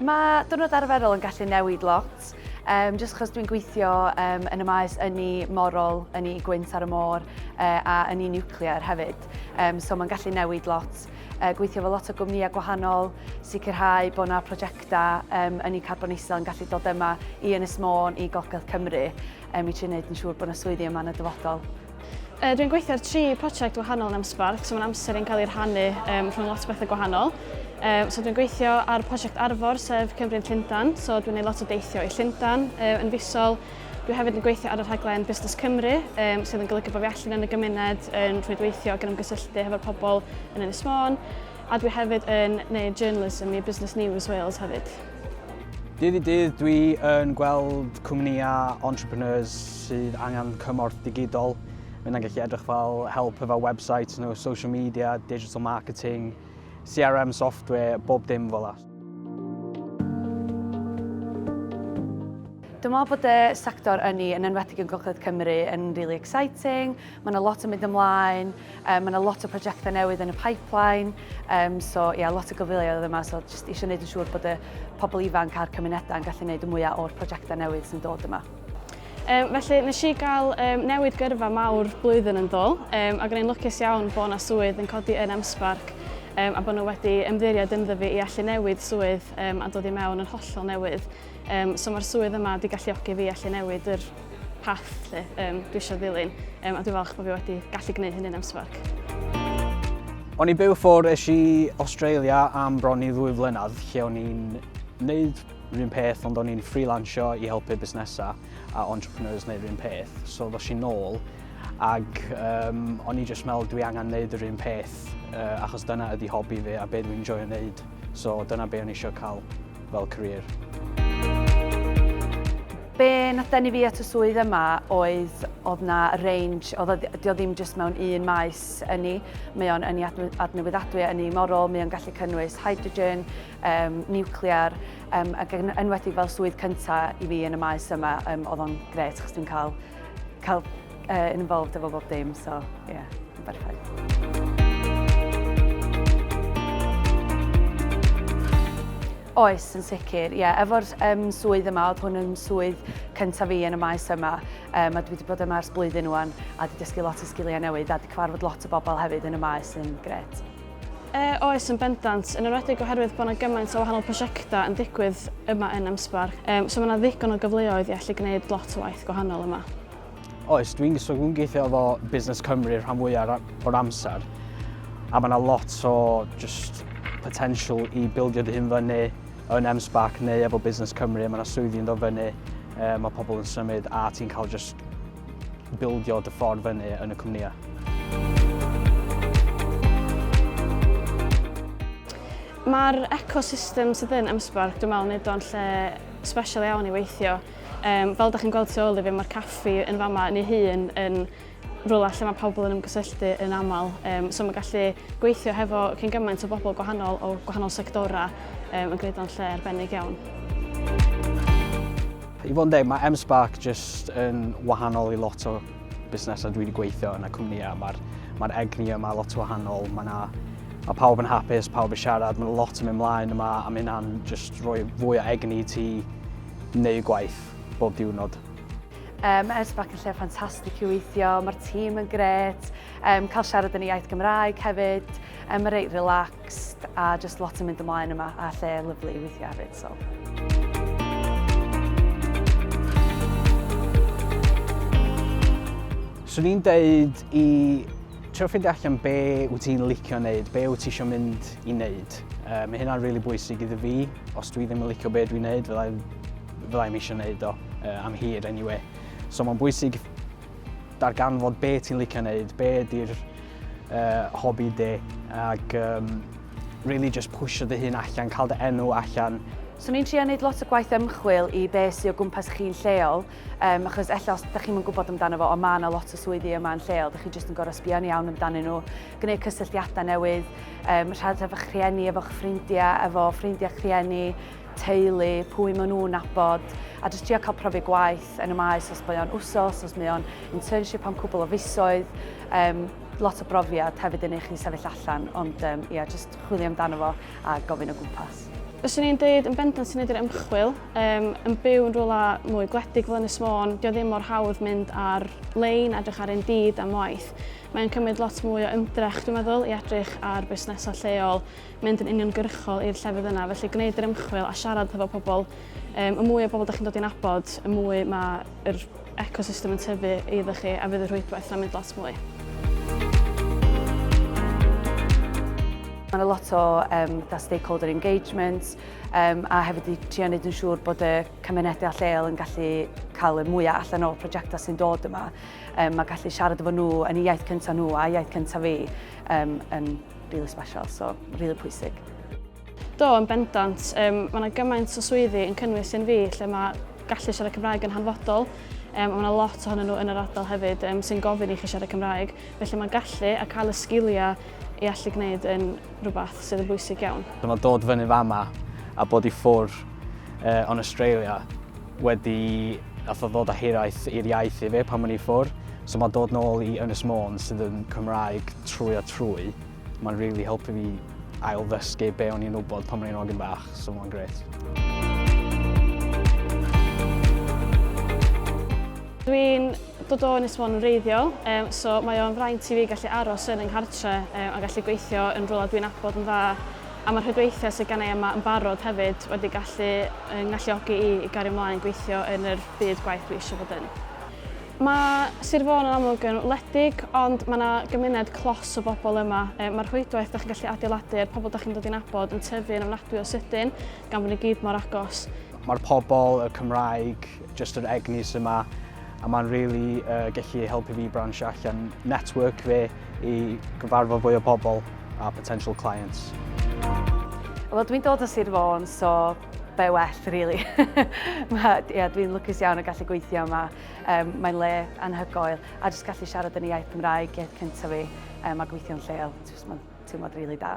Mae diwrnod arferol yn gallu newid lot, um, jyst achos dwi'n gweithio um, yn y maes yn ni morol, yn ni gwynt ar y môr uh, a yn ni nuclear hefyd, um, so mae'n gallu newid lot. uh, gweithio efo lot o gwmnïau gwahanol, sicrhau bod yna prosiectau um, yn ei carbon isel yn gallu dod yma i Ynys Môn, i Golgedd Cymru, um, i trio wneud yn siŵr bod yna swyddi yma yn y dyfodol. Uh, Dwi'n gweithio ar tri prosiect wahanol yn Amsbarth, so mae'n amser yn cael ei rhannu um, rhwng lot o bethau gwahanol. Um, so dwi'n gweithio ar prosiect Arfor, sef Cymru'n Llundan, so dwi'n gwneud lot o deithio i Llundan um, yn fisol, Dwi hefyd yn gweithio ar y rhaglen Busnes Cymru, um, sydd yn golygu bod fi allan yn y gymuned yn rhwydweithio ac yn ymgysylltu hefo'r pobl yn Ynys Môn, a dwi hefyd yn neud journalism i Business News Wales hefyd. Dydd i dydd dwi yn gweld cwmnïau entrepreneurs sydd angen cymorth digidol. Mae'n yna'n gallu edrych fel help efo website nhw, social media, digital marketing, CRM software, bob dim fel la. Dwi'n meddwl bod y sector ynni, yn enwedig yn Gogledd Cymru, yn really exciting. Mae yna lot yn mynd ymlaen, um, mae yna lot o prosiectau newydd yn y pipeline, um, so ie, yeah, lot o gyfleoedd yma, so jyst eisiau gwneud yn siŵr bod y pobl ifanc a'r cymunedau yn gallu gwneud y mwyaf o'r prosiectau newydd sy'n dod yma. Um, felly, nes i gael um, newid gyrfa mawr blwyddyn yn ddol, um, ac yn ein lwcus iawn bod yna swydd yn codi yn Emsbarc um, a bod nhw wedi ymddiried ynddo fi i allu newid swydd um, a dod i mewn yn hollol newydd. Um, so mae'r swydd yma wedi galluogi fi allu newid yr path lle um, dwi eisiau ddilyn um, a dwi'n falch bod fi wedi gallu gwneud hynny'n emsfarc. O'n i byw ffwrdd eisiau Australia am bron i ddwy flynedd lle o'n i'n wneud Yr un peth ond o'n i'n freelansio i helpu busnesau a entrepreneurs neu yr un peth. So ddos i'n nôl ac um, o'n i jyst meddwl dwi angen neud yr un peth uh, achos dyna ydi hobi fi a be dwi'n joio neud. So dyna be o'n i eisiau cael fel career. Be nath denu fi at y swydd yma oedd oedd na range, oedd o ddim jyst mewn un maes ynni. Mae o'n ynni adnewyddadwy, ynni morol, mae o'n gallu cynnwys hydrogen, um, niwclear, um, ac yn enwedig fel swydd cyntaf i fi yn y maes yma, um, oedd o'n gret, chos dwi'n cael, cael uh, involved efo bob dim, so, ie, yeah, yn berffaith. Oes, yn sicr, ie. Yeah. Efo'r um, swydd yma, oedd hwn yn swydd cyntaf fi yn y maes yma, um, a dwi wedi bod yma ers blwyddyn nhw'n, a wedi dysgu lot o sgiliau newydd, a wedi cyfarfod lot o bobl hefyd yn y maes yn gret. Yy, oes, yn bendant, yn enwedig oherwydd bod yna gymaint o wahanol prosiectau yn digwydd yma yn Emsbar. Um, so mae yna ddigon o gyfleoedd i allu gwneud lot o waith gwahanol yma. Oes, dwi'n so dwi'n gweithio efo Busnes Cymru rhan fwyaf o'r amser. A mae yna lot o just potential i bildio dy hun fyny yn Emsbac neu efo Busnes Cymru. Mae yna swyddi yn dod fyny, um, mae pobl yn symud a ti'n cael just bildio dy ffordd fyny yn y cwmnïau. Mae'r ecosystem sydd yn Ymsbarc, dwi'n meddwl, wneud o'n lle special iawn i weithio. Um, fel ydych chi'n gweld tu ôl i fi, mae'r caffi yn fama yn ei hun yn rhywle lle mae pobl yn ymgysylltu yn aml. Um, so mae gallu gweithio hefo cyn gymaint o bobl gwahanol o gwahanol sectorau um, yn gwneud o'n lle arbennig iawn. I fod yn deg, mae M-Spark jyst yn wahanol i lot o busnesau dwi wedi gweithio yn y cwmnïau. Mae'r ma egni yma lot o wahanol, mae yna Mae pawb yn hapus, pawb yn siarad, mae lot yn mynd mlaen yma a mae hynna'n just rhoi fwy o egni ti neu gwaith bob diwrnod. Um, mae Ersbac yn lle ffantastig i weithio, mae'r tîm yn gret, um, cael siarad yn y iaith Gymraeg hefyd, um, mae reit relax. Next a just lot yn mynd ymlaen yma a lle lyflu i weithio hefyd so. Swn i'n deud i trio ffeindio allan be wyt ti'n licio wneud, be wyt ti eisiau mynd i wneud. Uh, mae hynna'n rili really bwysig iddo fi. Os dwi ddim yn licio be dwi'n wneud, fyddai'n fyddai eisiau wneud o uh, am hir anyway. So mae'n bwysig darganfod be ti'n licio wneud, be ydy'r uh, hobi de, ac um, really just pwysio dy hun allan, cael dy enw allan. So ni'n trio wneud lot o gwaith ymchwil i be sy'n o gwmpas chi'n lleol, um, achos ella os ydych chi'n gwybod amdano fo, ond mae yna lot o swyddi yma yn lleol, ydych chi jyst yn gorau sbio'n iawn amdanyn nhw, gwneud cysylltiadau newydd, um, rhad efo'ch rhieni, efo'ch ffrindiau, efo ffrindiau rhieni, teulu, pwy maen nhw'n nabod, a jyst trio cael profi gwaith yn y maes os mae o'n wsos, os mae o'n internship am cwbl o fisoedd, um, lot o brofiad hefyd yn eich chi sefyll allan, ond um, ia, jyst chwilio amdano fo a gofyn o gwmpas. Fyswn i'n dweud yn bendant sy'n edrych ymchwil, um, yn byw yn rhywle mwy gwledig fel Ynys Môn, dio ddim mor hawdd mynd ar lein, edrych ar Indeed am waith. Mae'n cymryd lot mwy o ymdrech, dwi'n meddwl, i edrych ar busnesau lleol mynd yn uniongyrchol i'r llefydd yna, felly gwneud yr ymchwil a siarad hefo pobl. Um, y mwy o bobl da chi'n dod i'n abod, y mwy mae yr ecosystem yn tyfu iddo chi a fydd y rhwydwaith yna'n mynd lot mwy. Mae yna lot o um, da stakeholder engagement um, a hefyd i trio wneud yn siŵr bod y cymunedau a lleol yn gallu cael y mwyaf allan o'r prosiectau sy'n dod yma. Um, mae gallu siarad efo nhw yn y iaith cyntaf nhw a iaith cyntaf fi um, yn Really special, so really pwysig. Do, yn bendant. Um, mae yna gymaint o swyddi yn cynnwys yn fi lle mae gallu siarad Cymraeg yn hanfodol. Um, mae yna lot ohonyn nhw yn yr ardal hefyd um, sy'n gofyn i chi siarad Cymraeg. Felly mae gallu a cael y sgiliau i allu gwneud yn rhywbeth sydd yn bwysig iawn. Dyma dod fyny fama a bod i ffwr uh, on Australia wedi nath o ddod â hiraeth i'r iaith i fi pan o'n i ffwr. So mae dod nôl i Ynys Môn sydd yn Cymraeg trwy a trwy, mae'n really helpu fi ail ddysgu be o'n i'n wybod pan o'n i'n ogyn bach, so mae'n grêt. Dwi'n dod o Ynys Môn yn reiddiol, um, so mae o'n fraint i fi gallu aros yn yng nghartre um, a gallu gweithio yn rhywle dwi'n abod yn dda A mae'r rhwydweithiau sydd genna i yma yn barod hefyd wedi gallu fy ngalluogi i i gario mlaen gweithio yn yr byd gwaith dwi eisiau bod yn. Mae Sir Fôn yn amlwg yn wledig, ond mae 'na gymuned clos o bobl yma. Mae'r rhwydwaith dach chi'n gallu adeiladu a'r pobl dach chi'n dod i nabod yn tyfu yn ofnadwy o sydyn, gan bod ni gyd mor agos. Mae'r pobl, y Cymraeg, jyst yr egni sy 'ma, a mae'n rili yy gallu helpu fi bransio allan network fi. i gyfarfod fwy o bobl a potential clients. Wel, dwi'n dod o Sir Fôn, so be well, really. yeah, dwi'n lwcus iawn o gallu gweithio yma. Um, mae'n le anhygoel. A jyst gallu siarad yn y iaith Cymraeg, iaith cyntaf fi, um, a gweithio'n lleol. Jyst mae'n teimlad rili really da.